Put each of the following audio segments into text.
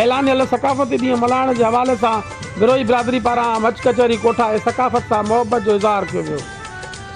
اعلانيل ثقافتي ڏينهن ملهائڻ جي حوالي سان بروهي برادري پاران مچ ڪچهري ڪوٺائي ثقافت سان محبت جو اظهار ڪيو ويو.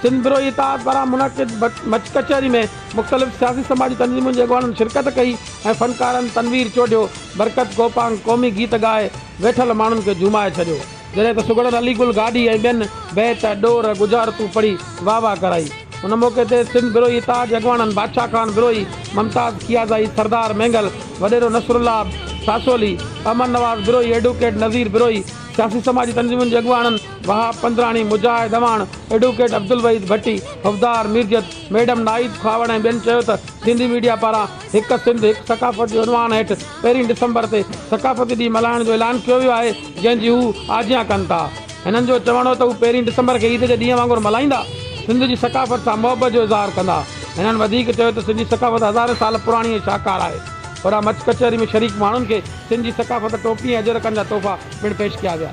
سنڌ بروهي اتحاد پاران منعقد مچ ڪچهري ۾ مختلف سياسي سماجي تنظيمن جي اڳواڻن شرڪت ڪئي ۽ فنڪارن تنوير چوڍيو، برڪت ڪوپانگ قومي گيت ڳائي ويٺل ماڻهن کي جهومائي ڇڏيو. جڏهن ته سگهڙن علي گل گاڏهي ۽ ٻين بيت، ڏور، ڳجهارتون پڙهي واهه واهه ڪرائي. ان موقعي تي سنڌ بروهي تاج اڳواڻن بادشاهه خان بروهي، ممتاز کيازائي، سردار مينگل، وڏيرو نصرالله ساسولي، احمد نواز بروهي، ايڊووڪيٽ نظير بروهي، سياسي سماجي تنظيمن جي اڳواڻن وهاب پنڌراڻي، مجاهد اعواڻ، ايڊووڪيٽ عبدالوحيد ڀٽي، حفدار ميرجت، ميڊم نائيد کهاوڙ ۽ ٻين چيو ته سنڌي ميڊيا پاران هڪ سنڌ، هڪ ثقافت جي عنوان هيٺ پهرين ڊسمبر تي ثقافتي ڏينهن ملهائڻ جو اعلان ڪيو ويو آهي، جنهن جي هو آجيان ڪن ٿا. هنن جو چوڻ هو ته هو پهرين ڊسمبر کي عيد جي ڏينهن وانگر ملهائيندا، سنڌ جي ثقافت سان محبت جو اظهار ڪندا. هنن وڌيڪ چيو ته سنڌي ثقافت هزارين سال پراڻي ۽ شاهڪار آهي. هوڏانهن مچ ڪچهري ۾ شريڪ ماڻهن کي سنڌ جي ثقافت، ٽوپي ۽ اجرڪن جا تحفا پڻ پيش ڪيا ويا.